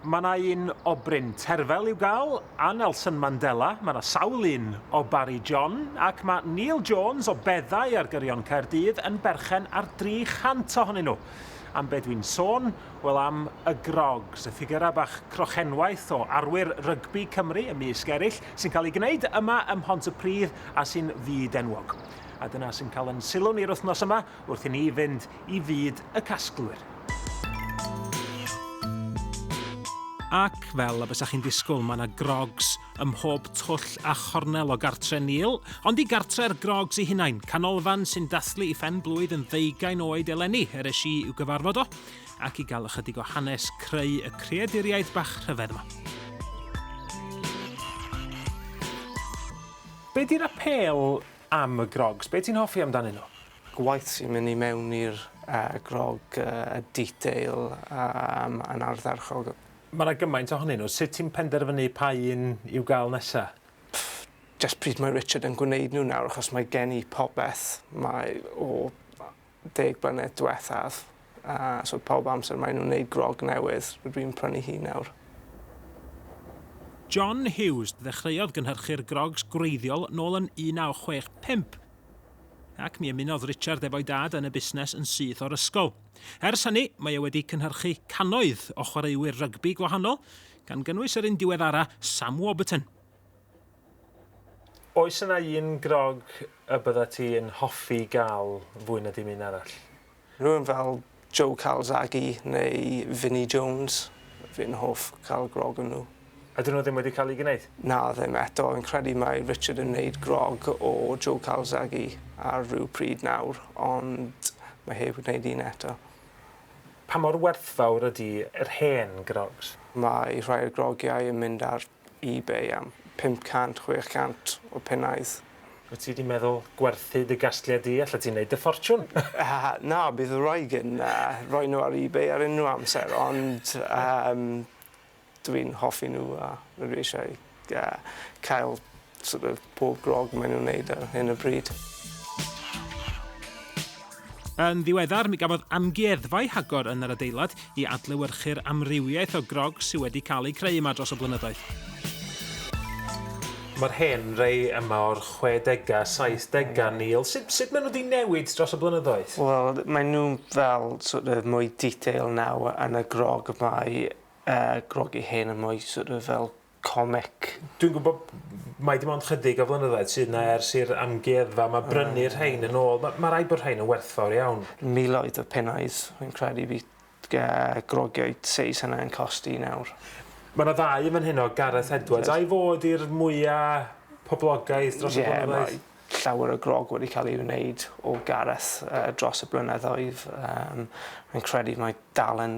Mae yna un o Bryn Terfel i'w gael, a Nelson Mandela, mae yna sawl un o Barri John, ac mae Neil Jones o Beddau ar Gyrion Caerdydd yn berchen ar 300 ohonyn nhw. Am be dwi'n sôn? Wel am y grogs, y ffigyrau bach crochenwaith o arwyr rygbi Cymru ymysg eraill, sy'n cael eu gwneud yma ym Mhont-y-pridd a sy'n fyd-enwog. A dyna sy'n cael yn sylw ni yr wythnos yma, wrth i ni fynd i fyd y casglwyr. Ac fel y bysa chi'n disgwyl, mae yna grogs ym mhob twll a chornel o gartre Neil. Ond i gartre'r grogs ei hunain, canolfan sy'n dathlu i phen-blwydd yn ddeugain oed eleni, er es i i'w gyfarfod o, ac i gael ychydig o hanes creu y creaduriaid bach rhyfedd yma. Be di'r apêl am y grogs. Be ti'n hoffi amdanyn nhw? Gwaith sy'n mynd i mewn i'r uh, grog, uh, y detail um, yn ardderchog. Mae yna gymaint ohonyn nhw. Sut ti'n penderfynu pa un i'w gael nesa? Pff, just pryd mae Richard yn gwneud nhw nawr, achos mae gen i popeth. Mae o deg blynedd diwethaf, a so pawb amser maen nhw'n neud grog newydd, rydw i'n prynu hi nawr. John Hughes ddechreuodd gynhyrchu'r grogs gwreiddiol nôl yn 1965, ac mi ymunodd Richard efo'i dad yn y busnes yn syth o'r ysgol. Ers hynny, mae e wedi cynhyrchu cannoedd o chwaraewyr rygbi gwahanol, gan gynnwys yr un diweddara, Sam Warburton. Oes yna un grog y byddet ti yn hoffi gael fwy na dim un arall? Rhywun fel Joe Calzaghe neu Vinnie Jones, fi'n hoff cael grog o nhw. Ydyn nhw ddim wedi cael eu gwneud? Na, ddim eto. Fi'n credu mae Richard yn wneud grog o Joe Calzaghe ar ryw pryd nawr, ond mae heb wneud un eto. Pa mor werthfawr ydy yr hen grogs? Mae rhai o'r grogiau yn mynd ar eBay am 500, 600 o punnau. Wyt ti 'di meddwl gwerthu dy gasgliad di? Allet ti 'neud dy ffortiwn! Na, bydd wraig yn rhoi nhw ar eBay ar unrhyw amser, ond dw i'n hoffi nhw a dw i eisiau cael Sort of pob grogg maen nhw'n neud ar hyn o bryd. Yn ddiweddar, mi gafodd amgueddfa ei hagor yn yr adeilad i adlewyrchu'r amrywiaeth o grogs sydd wedi cael eu creu yma dros y blynyddoedd. Mae'r hen rei yma o'r chwedegau, saithdegau, Neil. Sut, sut maen nhw wedi newid dros y blynyddoedd? Wel, maen nhw fel sort of mwy detail nawr yn y grogg. Mae uh, groggy hen yn mwy sort of fel comic. Dwi'n gwybod mai dim ond chydig o flynyddoedd sydd yna ers i'r amgueddfa yma brynu'r rhain yn ôl. Mae rhaid bod rhain yn werthfawr iawn. Miloedd o punnau, rwy'n credu bydd grogiau seis hynna yn costi nawr. Mae yna ddau yn fan heno, Gareth Edwards, a'i fod i'r mwya' poblogaidd dros y blynyddoedd? Ie, mae llawer o grog wedi cael ei wneud o Gareth dros y blynyddoedd. Rwy'n credu mai dal yn